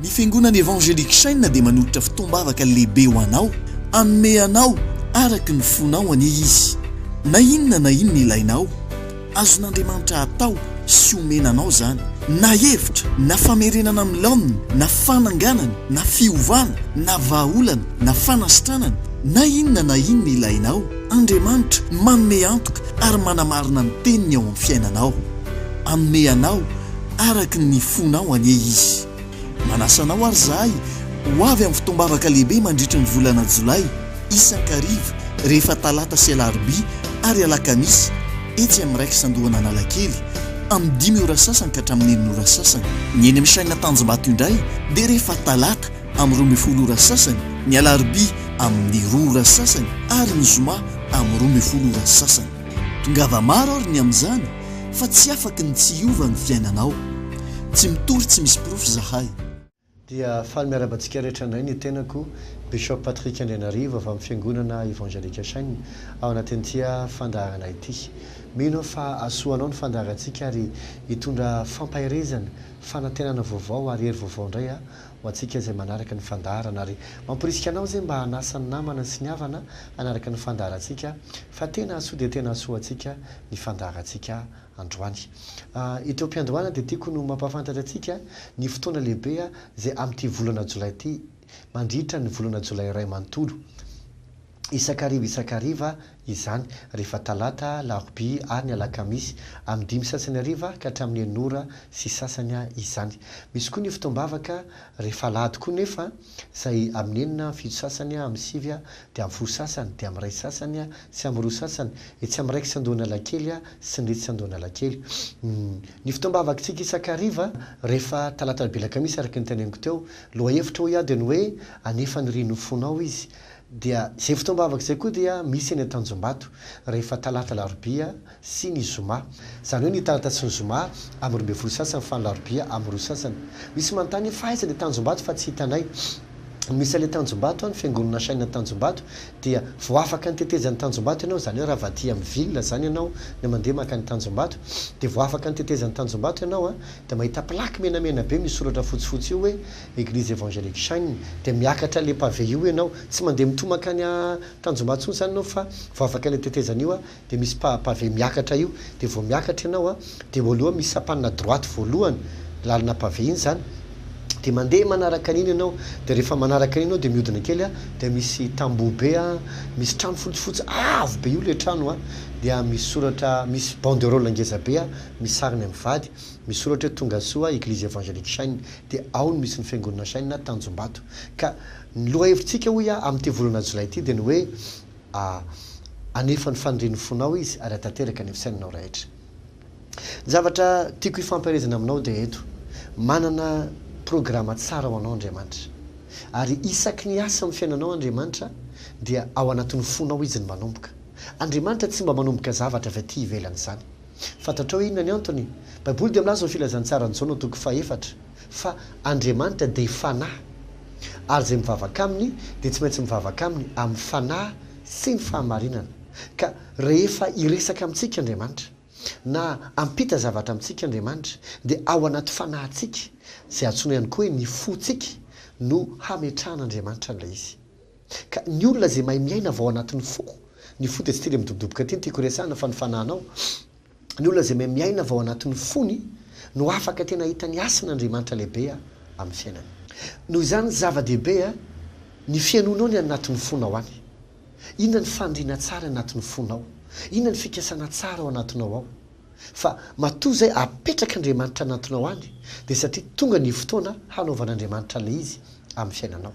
Ny Fiangonana Evangelique Chaîne dia manolotra fotoam-bavaka lehibe ho anao. Hanome anao araka ny fonao anie izy. Na inona na inona ilainao, azon'Andriamanitra atao sy omena anao izany. Na hevitra, na famerenana amin'ny laoniny, na fananganana, na fiovana, na vahaolana, na fanasitranana, na inona na inona ilainao, Andriamanitra manome antoka ary manamarina ny teniny ao amin'ny fiainanao. Hanome anao araka ny fonao anie izy. Manasa anao ary izahay ho avy amin'ny fotoam-bavaka lehibe mandritry ny volana Jolay, isan-kariva, rehefa Talata sy Alarobia ary Alakamisy, etsy amin'ny Rex Andohan'Analakely, amin'ny dimy ora sasany ka hatramin'ny enina ora sasany. Ny eny amin'ny Chaîne Tanjombato indray dia rehefa Talata amin'ny roa ambin'ny folo ora sasany, ny Alarobia amin'ny roa ora sasany ary ny Zoma amin'ny roa ambin'ny folo ora sasany. Tongava maro ary ny amin'izany! Fa tsy afaky ny tsy hiova ny fiainanao Tsy mitory tsy misy porofo izahay. Dia faly miarahaba antsika rehetra indray ny tenako Bishop Patrick Andrianarivo avy amin'ny Fiangonana Evangelique Shine ao anatin'ity fandaharana ity. Mino aho fa hahasoa anao ny fandaharantsika ary hitondra fampaherezana, fanantenana vaovao ary hery vaovao indray ho antsika izay manaraka ny fandaharana ary mamporisika anao izay mba hanasa ny namana sy ny havana hanaraka ny fandaharantsika fa tena hahasoa dia tena hahasoa antsika ny fandaharantsika androany. Eto am-piandohana dia tiako no mampahafantatra antsika ny fotoana lehibe izay amin'ity volana jolay ity, mandritra ny volana jolay iray manontolo. Isak'hariva isak'hariva izany, rehefa talata, alarobia ary ny alakamisy, amin'ny dimy sy sasany hariva ka hatramin'ny enina ora sy sasany izany. Misy koa ny fotoam-bavaka rehefa alahady koa nefa. Izay amin'ny enina fito sasany amin'ny sivy dia amin'ny folo sasany dia amin'ny iray sasany sy amin'ny roa sasany etsy amin'ny raikitra an-dohan'Alakely sy ny retsy an-dohan'Alakely. Ny fotoam-bavakitsika isan-kariva rehefa talata alahady alakamisy araka ny teneninko teo, lohahevitra hoy aho dia ny hoe anefa ny rino ho fonao izy Dia izay fotoam-bavaka izay koa dia misy eny Antanjombato rehefa talata alarobia sy ny zoma. Izany hoe ny talata sy ny zoma amin'ny roa ambin'ny folo sasany fa ny alarobia amin'ny roa sasany. Misy manontany hoe fa aiza ilay Tanjombato fa tsy hitanay. Misy an'ilay Tanjombato any, Fiangonana Shine Antanjombato dia vao afaka ny tetezan'ny Tanjombato ianao, izany hoe raha avy aty amin'ny ville izany ianao no mandeha mankany Tanjombato dia vao afaka ny tetezan'ny Tanjombato ianao dia mahita plaque menamena be misy soratra fotsifotsy io hoe Eglise Evangelique Shine dia miakatra le pavé io enao tsy mandeha mitoha mankany a Tanjombato tsony zany enao fa voavaka le tetezana io a de misy pa pavé miakatra io de vao miakatra enao a de eo aloha misy sampanina droite voalohany lalana pavé iny zany de mandeha manaraka an'iny enao de rehefa manaraka an'iny enao de miodina kely a de misy tamboho be a misy trano fotsifotsy avo be io le trano a dia misy soratra misy banderole ngeza be a misy sariny mivady Misoratra hoe Tongasoa Eglise Evangelique Shine dia ao no misy ny Fiangonana Shine Tanjombato. Ka ny lohahevitsika hoy aho amin'ity volana jolay ity dia ny hoe Hanefa ny fanirian'ny fonao Izy ary hahatanteraka ny fisainanao rehetra. Ny zavatra tiako hifampaherezana aminao dia eto, manana programa tsara ho anao Andriamanitra. Ary isaky ny asa amin'ny fiainanao Andriamanitra dia ao anatin'ny fonao Izy no manomboka. Andriamanitra tsy mba manomboka zavatra avy aty ivelany izany. Fantatrao inona ny antony? Baiboly dia milaza ho filazantsaran'i Jaona toko fahefatra fa Andriamanitra dia Fanahy ary izay mivavaka aminy dia tsy maintsy mivavaka aminy amin'ny fanahy sy ny fahamarinana. Ka rehefa hiresaka amintsika Andriamanitra na hampita zavatra amintsika Andriamanitra dia ao anaty fanahintsika, izay antsoina ihany koa hoe ny fontsika, no hametrahan'Andriamanitra an'ilay izy. Ka ny olona izay mahay miaina avy ao anatin'ny foko, ny fo dia tsy tily midobodoboka aty no tiako iresahana fa ny fanahinao, ny olona izay mahay miaina avy ao anatin'ny fony no afaka tena hahita ny hasin' Andriamanitra lehibe amin'ny fiainany. Noho izany zava-dehibe ny fihainoanao ny any anatin'ny fonao any. Inona ny fandriana tsara anatin'ny fonao, inona ny fikasana tsara ao anatinao ao. Fa matoa izay apetrak' Andriamanitra anatinao any dia satria tonga ny fotoana hanaovan'Andriamanitra ilay izy amin'ny fiainanao.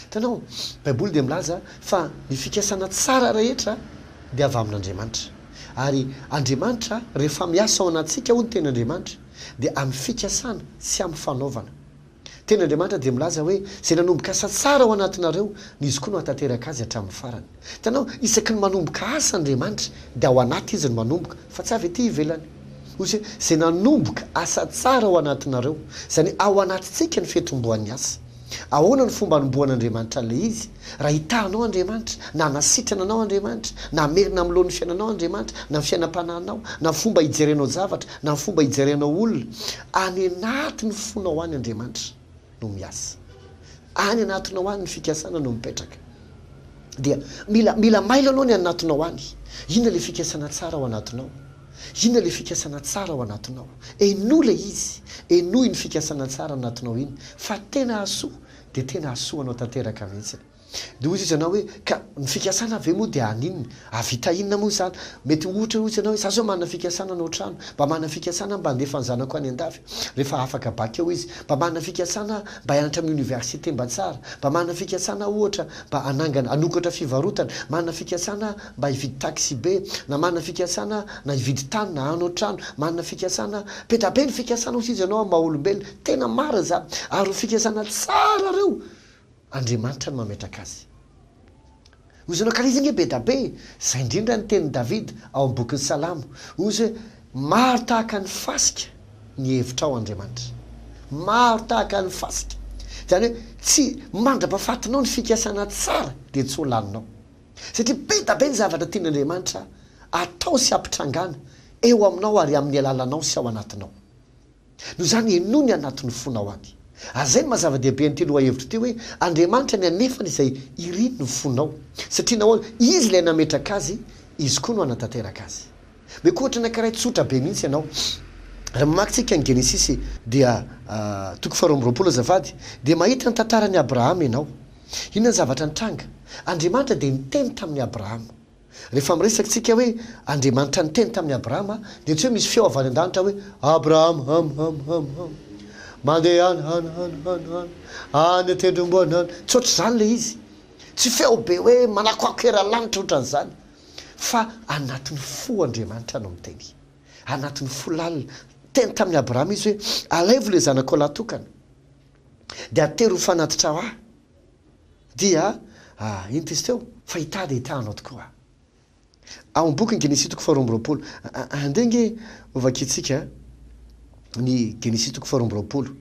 Hitanao, Baiboly dia milaza fa ny fikasana tsara rehetra dia avy amin'Andriamanitra. Ary Andriamanitra, rehefa miasa ao anatintsika hoy ny teny Andriamanitra, dia amin'ny fikasana, tsy amin'ny fanaovana. Teny Andriamanitra dia milaza hoe, Izay nanomboka asa tsara ao anatinareo, ny Izy koa no hahatateraka azy hatramin'ny farany. Hitanao, isaky ny manomboka asa Andriamanitra, dia ao anaty Izy no manomboka, fa tsy avy ety ivelany. Hoy Izy hoe, Izay nanomboka asa tsara ao anatinareo. Izany hoe, ao anatintsika no fiantombohan'ny asa. Ahoana no fomba anombohan'Andriamanitra an'ilay izy? Raha hitaha anao Andriamanitra, na hanasitrana anao Andriamanitra, na hamerina amin'ny laon'ny fiainanao Andriamanitra, na ny fiainam-panahinao, na ny fomba ijerenao zavatra, na ny fomba ijerenao olona, any anatin'ny fonao any Andriamanitra no miasa. Any anatinao any ny fikasana no mipetraka. Dia mila, mila mailo aloha ny anatinao any. Inona ilay fikasana tsara ao anatinao? Inona ilay fikasana tsara ao anatinao? Henoy ilay izy, henoy iny fikasana tsara anatinao iny fa tena hahasoa dia tena hahasoa anao tanteraka mihitsy. Dia hoy izy anao hoe, ka ny fikasana ve moa dia haninona? Hahavita inona moa izany? Mety ohatra hoy izy anao hoe, za zao manana fikasana hanao trano, mba manana fikasana aho mba handefa ny zanako any an-dafy rehefa afaka bac eo izy, mba manana fikasana aho mba hianatra amin'ny université mba tsara, mba manana fikasana aho ohatra mba hanangana, hanokatra fivarotana, manana fikasana aho. mba hividy taxibe na manana fikasana na hividy tany na hanao trano, manana fikasana, be da be ny fikasana hoy izy ianao amin'ny maha olombelona, tena marina izany ary ho fikasana tsara ireo Andriamanitra no mametraka azy hoy izy ianao ka izy ange be da be e, izay indrindra ny tenin'i Davida ao amin'ny bokin'ny Salamo hoy izy hoe maro tahaka ny fasika ny hevitrao Andriamanitra, maro tahaka ny fasika izany hoe tsy mandrapahafatinao ny fikasana tsara dia tsy ho laninao. Satria be da be ny zavatra tian' Andriamanitra atao sy ampitrangana eo aminao ary amin' ny alalanao sy ao anatinao. Noho izany henoy ny anatin' ny fonao any. Ary izay no maha zava-dehibe an' ity lohahevitra ity hoe, Andriamanitra ny anefany izay irin' ny fonao. Satria nahoana? Izy ilay nametraka azy, Izy koa no hanatanteraka azy. Mety ho ohatra anankiray tsotra be mihitsy ianao. Raha mamaky tsika ny Genesisy dia, toko faharoa amby roapolo azafady, dia mahita ny tantaran' i Abrahama ianao. Inona ny zavatra nitranga? Andriamanitra dia niteny tamin'i Abrahama. Rehefa miresaka isika hoe Andriamanitra niteny tamin'i Abrahama dia tsy hoe misy feo avy any an-danitra hoe, Abrahama, hum, hum, hum, hum. Mandeha any, hany, hany, hany, hany, any an-tendrombohina any. Tsy ohatr'izany ilay izy. Tsy feo be hoe manakoako eran'ny-lanitra ohatr'an'izany. Fa anatin'ny fo Andriamanitra no miteny. Anatin'ny fo lalina. Niteny tamin'i Abrahama izy hoe, Alaivo ilay zanakao lahy tokana. Dia atery ho fanatitrao ahy. Dia, ah, inty izy teo, Fa hitady hita Anao tokoa. Ao amin'ny bokin'ny Genesy toko faharoa amby roapolo. Andeha ange hovakintsika ny Genesy toko faharoa amby roapolo.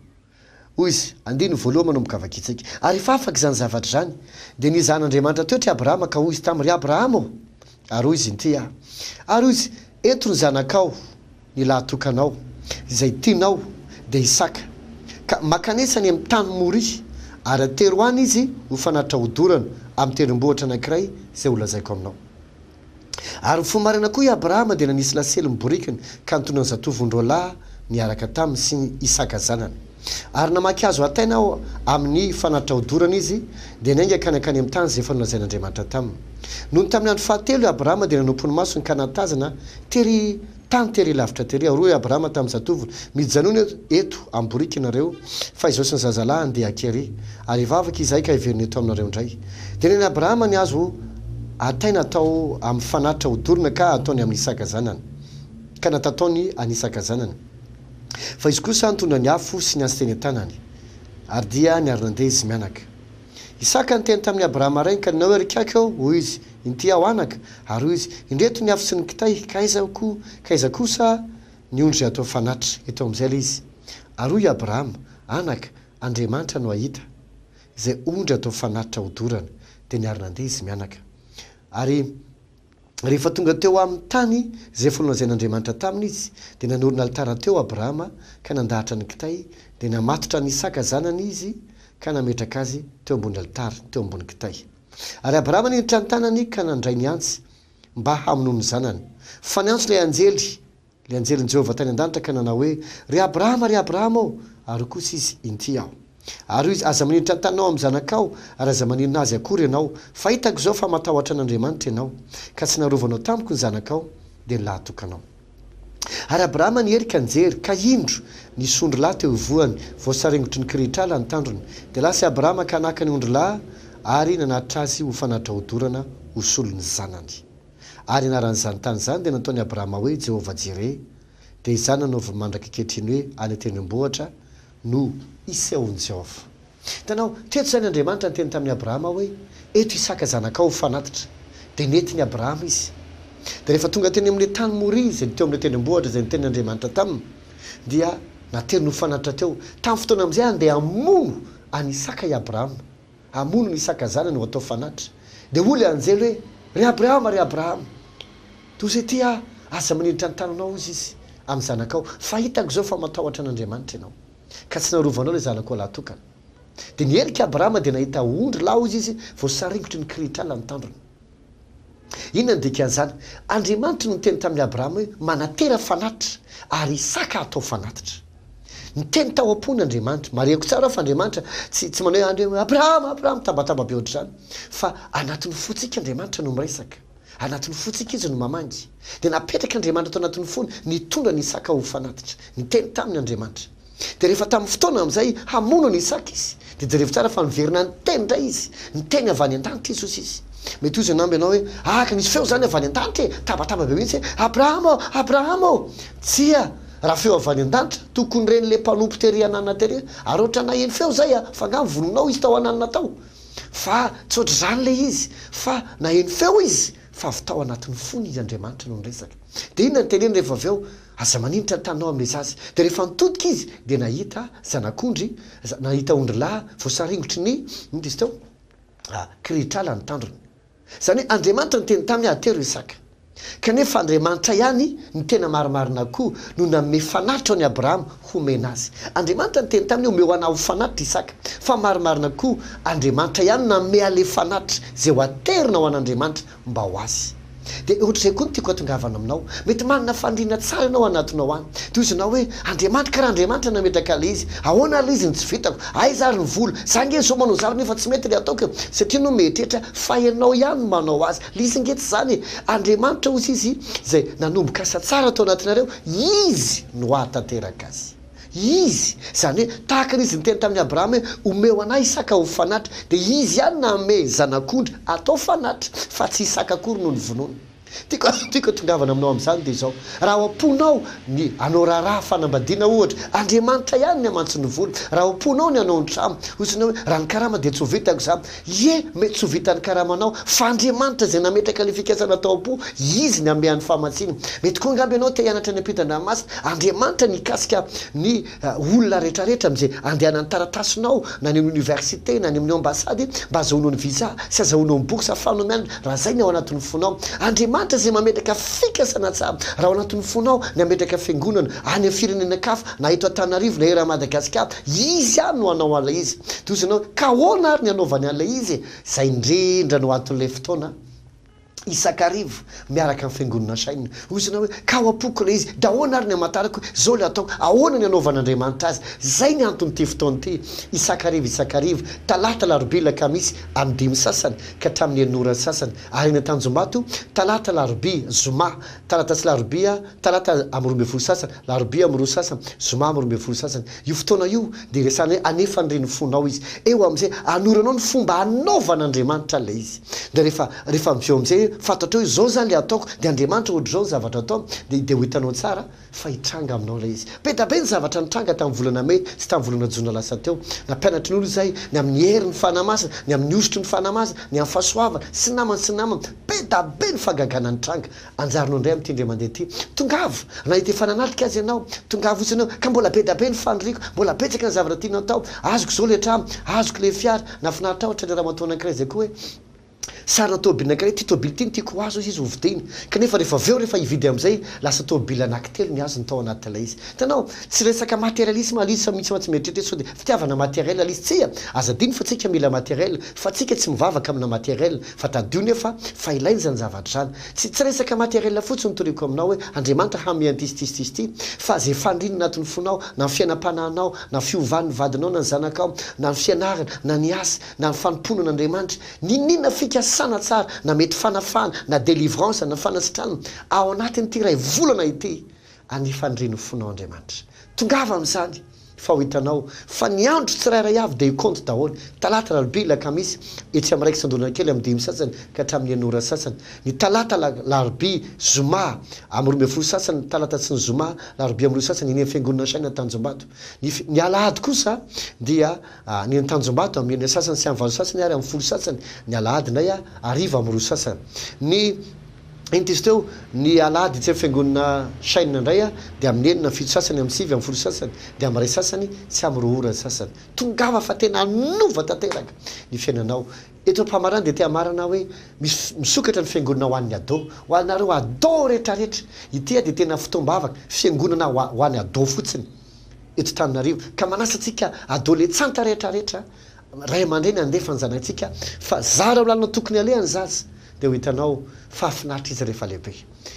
Hoy Izy, andininy voalohany manomboka vakintsika. Ary rehefa afaka izany zavatra izany, dia nizaha an'Andriamanitra teo try Abrahama ka hoy Izy taminy, Ry Abrahama ô! Ary hoy Izy, Inty aho. Ary hoy Izy, Eto ny zanakao. ny lahatokanao, izay tianao dia hisaka, ka mankanesa any amin'ny tany Moria, ary atero any izy ho fanatitra hodorana amin'ny tendrombohitra anankiray izay holazaiko aminao. Ary mifoha maraina koa i Abrahama dia nanisy lasely ny borikiny, ka nitondra ny zatovony roalahy niaraka taminy sy Isaka zanany. Ary namaky hazo hataina ao amin' ny fanatitra hodorana izy, dia niainga hankany hankany amin' ny tany izay efa nolazain' Andriamanitra taminy. Nony tamin' ny andro fahatelo i Abrahama dia nanompo ny masony ka nahatazana tery tany tery lavitra tery aho. Hoy i Abrahama tamin' ny zatovony, Mijanona eto amborika ianareo, fa izao sy ny zazalahiny dia aty àry, ary hivavaka izahay ka hiverina eto aminareo indray. Dia neny an' Abrahama ny hazo hataina hatao amin' ny fanatitra hodorana ka hataony amin' Isaka zanany, ka natataony an' Isaka zanany. Fa izy kosa nitondra ny afo sy ny antsy teny an-tanany, ary dia niary nandeha izy mianaka. Isaka niteny tamin'i Abrahama rainy, Ka ninao ery kaiky aho, hoy izy, Inty aho, anaka. Ary hoy izy, Indreto ny afo sy ny kitay, ka aiza koa, ka aiza kosa ny ondry hatao fanatitra? Eto amin'izay ilay izy. Ary hoy i Abrahama, Anaka, Andriamanitra no hahita izay ondry hatao fanatitra hodorana. Dia niary nandeha izy mianaka. Ary. Rehefa tonga teo amin'ny tany izay efa nolazain'Andriamanitra taminy izy, dia nanorina alitara teo Abrahama ka nandahatra ny kitay, dia namatotra an'i Isaka zanany izy ka nametraka azy teo ambony alitara, teo ambony kitay. Ary Abrahama niditra ny tanany ka nandray ny antsy mba hamonoa ny zanany. Fa niantso ilay anjely. Ilay anjelin'i Jehovah tany an-danitra ka nanao hoe, Ry Abrahama, ry Abrahama ô! Ary hoy kosa izy, Inty aho. Ary hoy izy, Aza manindry tantanao amin'ny zanakao, ary aza maninona azy akory ianao, fa hitako izao fa matahotra an'Andriamanitra ianao, ka tsy narovanao tamiko ny zanakao, dia ny lahitokanao. Ary Abrahama niery ka nijery, ka indro, nisy ondry lahy teo ivohany, voasarengotry ny kirihitr'ala ny tandrony. Dia lasa i Abrahama ka naka ny ondry lahy, ary nanatitra azy ho fanatra-odorana ho solon'ny zanany. Ary anaran'izany tany izany dia nataon'i Abrahama hoe Jehovah-jireh, dia izany nanaoviny mandraka ankehitriny hoe any an-tendrombohitra no isehoan'i Jehovah. Hitanao, teto izany Andriamanitra niteny tamin'i Abrahama hoe, Eto Isaka zanakao ho fanatitra. Dia nentin'i Abrahama izy. Dia rehefa tonga teny amin'ilay tany Moria izay ny teo amin'ilay tendrombohitra izay nitenin' Andriamanitra taminy, dia nateriny ho fanatitra teo. Tamin'ny fotoana amin'izay, handeha hamono an'i Isaka i Abrahama. Hamono ny Isaka zanany ho atao fanatitra. Dia hoy ilay anjely hoe, Ry Abrahama, ry Abrahama, toa izay ity aho, aza manilitra ny tananao, hozy izy, amin'ny zanakao, fa hitako izao fa matahotra an'Andriamanitra ianao, ka tsy narovanao ilay zanakao lahatokana. Dia niherika Abrahama dia nahita ondry lahy, hozy izy, voasaringotry ny kirihitr'ala ny tandrony. Inona no dikan'izany? Andriamanitra no niteny tamin'i Abrahama hoe, Manatera fanatitra, ary Isaka hatao fanatitra. Niteny tao am-pony Andriamanitra. Marihako tsara aho fa Andriamanitra tsy tsy manao hoe, Abrahama, Abrahama, mitabataba be hoatr'izany. Fa anatin'ny fontsika Andriamanitra no miresaka. Anatin'ny fontsika Izy no mamangy. Dia napetrak'Andriamanitra tao anatin'ny fony, nitondra an'i Isaka ho fanatitra. Niteny taminy Andriamanitra. Dia rehefa tamin'ny fotoana amin'izay hamono an'i Isaka izy, dia jerevo tsara fa niverina niteny indray izy, niteny avy any an-danitra Jesosy izy. Mety ho izy angamba ianao hoe, Aka nisy feo izany avy any an-danitra e! Tabataba be mihitsy hoe, Abrahama ô! Abrahama ô! Tsia, raha feo avy any an-danitra, tokony ren'ilay mpanompo tery an'anana tery hoe, Ary hoatra naheno feo izay a! Fa angaha novonoinao izy tao an'anana tao? Fa tsy hoatr'izany ilay izy, fa naheno feo izy fa avy tao anatin'ny fony izy, Andriamanitra no niresaka. Dia inona no teneniny rehefa avy eo? Aza maninitra ny taninao amin'ilay zaza. Dia rehefa nitodika izy dia nahita zanak'ondry, nahita ondrilahy voasaringotry ny, inona izy teo? kirihitr'ala ny tandrony. Izany hoe Andriamanitra niteny taminy haha tero Isaka. Kanefa Andriamanitra ihany no tena marimarina koa no nanome fanatitra an'i Abrahama homena azy. Andriamanitra niteny taminy hoe omeo anah ho fanatitra Isaka. Fa marimarina koa Andriamanitra ihany no nanome an'ilay fanatitra izay ho aterina ho an'Andriamanitra mba ho azy. Dia ohatr'izay koa ny tiako hatongavana aminao. Mety manana faniriana tsara ianao anatinao any. Tohizinao hoe, Andriamanitra, ka raha Andriamanitra nametraka ilay izy, ahoana ary ilay izy no tsy vitako? Aiza ary ny vola? Za ange izao manao zavatra nefa tsy mety ilay ataoko e! Satria ianao mieritreritra fa ianao ihany no manao azy. Ilay izy ange tsy izany e! Andriamanitra hozy izy izay nanomboka asa tsara tao anatinareo, izy no hahatanteraka azy. Izy, izany hoe, tahaka ny izy niteny tamin'i Abrahama hoe, Omeo an'ahy Isaka ho fanatri, dia izy ihany nanome zanak'ondry hatao fanatri, fa tsy Isaka akory no novonoina. Tiako tiako hitongavana aminao amin'izany dia izao, raha ao am-ponao ny hanao raharaha fanambadiana ohatra, Andriamanitra ihany ny hamantsy ny vola, raha ao am-ponao ny hanao ny trano, hoy izy anao hoe, raha ny karama dia tsy ho vitako izany, Ie, mety tsy ho vitan'ny karamanao, fa Andriamanitra izay nametraka ilay fikasana tao am-po, Izy ny hanome an'ny fahamatsiana. Mety koa angamba ianao te hianatra ny ampitan-dranomasin' Andriamanitra nikasika ny olona rehetrarehetra amin'izay andehanan'ny taratasinao, na any amin'ny oniversite, na any amin'ny ambasady, mba azahoanao ny visa sy azahoanao ny bourse fanomeana, raha izay ny ao anatin'ny fonao. Andriamanitra izay mametraka fikasana tsara, raha ao anatin'ny fonao ny hametraka fiangonana any amin'ny firenena-kafa, na eto Antananarivo, na eran'i Madagasikara, Izy ihany no hanao an'ilay izy. Dia hoy ianao, Ka ahoana àry ny hanaovany an'ilay izy e? Izay indrindra no anton'ilay fotoana isan-kariva miaraka amin'ny Fiangonana sainina. Hoy ianao hoe, Ka ao am-poko ilay izy, dia ahoana àry ny hamantarako hoe izao ilay atao? Ahoana ny hanaovan'Andriamanitra azy? Izay ny anton'ity fotoana ity, isan-kariva isan-kariva, Talata, Alarobia, Alakamisy, Anodiany sasany ka hatramin'ny Herin'ny Ora sasany, ary eny Antanjombato, Talata, Alarobia, Zoma, Talata sy larobia, talata amin'ny roa ambin'ny folo sasany, larobia amin'ny roa sasany, zoma amin'ny roa ambin'ny folo sasany. Io fotoana io dia resahan'ny hoe hanefa an'ireny ny fonao izy. Eo amin'izay, hanoranao ny fomba hanaovan'Andriamanitra ilay izy. Dia rehefa, rehefa avy eo amin'izay hoe fantatrao hoe izao izany ilay ataoko, dia Andriamanitra ohatr'izao ny zavatra ataony, dia, dia ho hitanao tsara fa hitranga aminao ilay izy. Be da be ny zavatra nitranga tamin'ny volana mey sy tamin'ny volana jona lasa teo. Nampianatry ny olona izahay ny amin'ny herin'ny Fanahy Masina, ny amin'ny hosotry ny Fanahy Masina, ny amin'ny fahasoavana, sy ny namany, sy ny namany. Be da be ny fagagana nitranga. Anjarino indray amin'ity indray mandeha ity. Tongava! Na hita efa nanatrika aza ianao. Tongava fotsiny eo. Ka mbola be da be ny faniriako. Mbola betsaka ny zavatra tianao atao. Azoko izao ilay trano. Azoko ilay fiara. Nahafinaritra ahy ohatran'ny ramatoa anankiray izay koa hoe, Sarina tômôbily anankiray. Ity tômôbily ity no tiako ho azy hoy izy hovidiany. Kanefa rehefa avy eo, rehefa hividy amin'izay, lasa tômôbily anankitelo ny azony tao anatin'ilay izy. Hitanao? Tsy resaka materialisma ilay izy fa misy mantsy mieritreritra hoe sao dia fitiavana materiel ilay izy. Tsia! Aza adino fa tsika mila materiel. Fa tsika tsy mivavaka amina materiel. Fa tadidio nefa fa ilaina izany zavatra izany. Tsy tsy resaka materiel fotsiny toriako aminao hoe Andriamanitra hanome an'ity sy ity sy ity sy ity, fa izay faniriana anatin'ny fonao, na ny fiainam-panahinao, na fiovan'ny vadinao na ny zanakao, na ny fianarana, na ny asa, na ny fanompoana an'Andriamanitra, n'inon'inona fikasana tsara, na mety fanafahana, na délivrance, na fanasitranana, ao anatin'ity iray volana ity, Anefa ny renofonao Andriamanitra. Tongava amin'izany, fa ho hitanao fa ny andro tsirairay avy dia hikoanto daholo, talata, alarobia, alakamisy, etsy amin'ny iraika sy andoholana kely amin'ny dimy sasany ka hatramin'ny enina ora sasany, ny talata, alarobia, zoma, amin'ny roa ambin'ny folo sasany, ny talata sy ny zoma, alarobia amin'ny roa sasany, eny amin'ny Fiangonana Shina Tanjombato. Ny, ny alahady kosa dia ny eny Tanjombato amin'ny enina sasany sy amin'ny valo sasany ary amin'ny folo sasany, ny alahady indray hariva amin'ny roa sasany. Ny. Enty izy teo, ny alahady etsy amin'ny fiangonana Shine indray aho, dia amin'ny enina, amin'ny fito sasany, amin'ny sivy, amin'ny folo sasany, dia amin'ny iray sasany, tsy amin'ny roa ora sasany. Tongava fa tena hanova tanteraka ny fiainanao. Eto am-pamarana dia te hamarana aho hoe, Misy, misokatra ny fiangonana ho an'ny ado. Ho anareo ado rehetra rehetra. Ity aho dia tena fotoam-bavaka, fiangonana ho, ho an'ny ado fotsiny, eto Tananarivo. Ka manasa antsika adoletsanta rehetra rehetra Ray aman-dreny handefa ny zanatsika fa zara ho lalana tokony haleha ny zaza dia ho hitanao fa hafinaritra izy rehefa lehibe.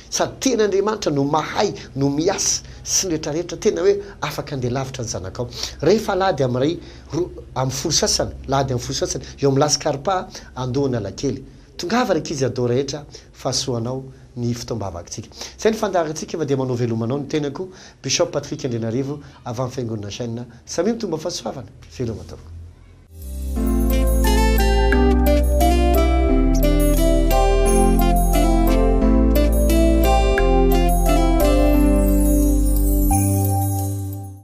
Sady tena Andriamanitra no mahay no miasa sy ny rehetra rehetra tena hoe afaka handeha lavitra ny zanakao. Rehefa alahady amin'ny iray, roa amin'ny folo sasany, lahady amin'ny folo sasany, eo amin'ny lasy karpa, andohan'Alakely. Tongava ry ankizy adao rehetra, fahasoa ho anao. ny fotoam-bavakintsika. Izay ny fandaharantsika fa dia manao veloma anao ny tenako Bishop Patrick Andrianarivo avy amin'ny Fiangonana Chen. Samia mitombo amin'ny fahasoavana. Veloma tompoko.